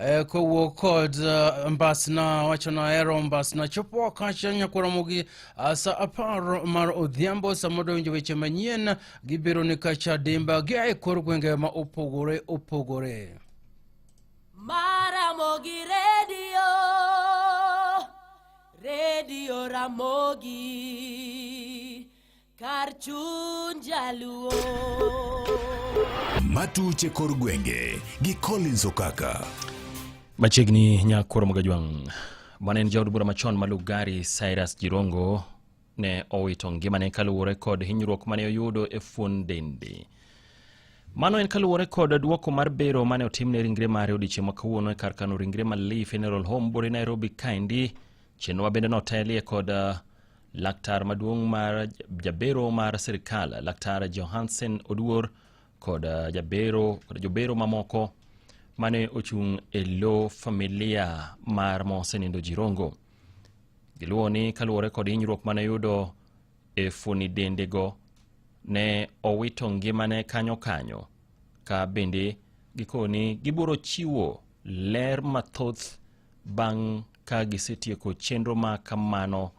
Eh, kowo kod uh, mbasna wacho nahero mbasna chopo wakacha nyakwaramogi uh, sa apar mar odhiambo sama donjo weche manyien gibiro ni kacha dimba gia e kor gwenge ma opogore opogore maramogi redio redio ramogi kar chuny jaluo matuche kor gwenge gi Collins Okaka machiegni nyakoro magajwang' mane en jaod bura machon ma Lugari Cyrus Jirongo ne owito ngimane kaluwore kod hinyruok mane oyudo e fuon dende Mano en kaluwore kod duoko mar bero mane otimne ringre mare odiechieng' ma kawuono e kar kano ringre Malii Funeral Home Bore Nairobi kaendi. Chenrowa bende notelie kod uh, Laktar maduong' mar jabero mar sirkal Laktar Johansen Oduor kod uh, jabero kod jobero mamoko mane ochung' e lo familia mar mosenindo Jirongo. Giluwo ni kaluwore kod hinyruok mane yudo e funi dendego ne owito ngimane kanyo kanyo ka bende gikoni gibiro chiwo ler mathoth Bang' ka gisetieko chenro ma kamano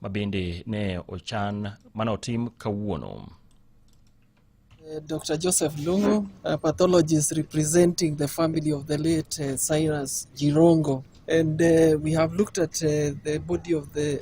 ma bende ne ochan mane otim kawuono. Uh, Dr. Joseph Lungu, a pathologist representing the family of the late uh, Cyrus Jirongo. And uh, we have looked at uh, the body of the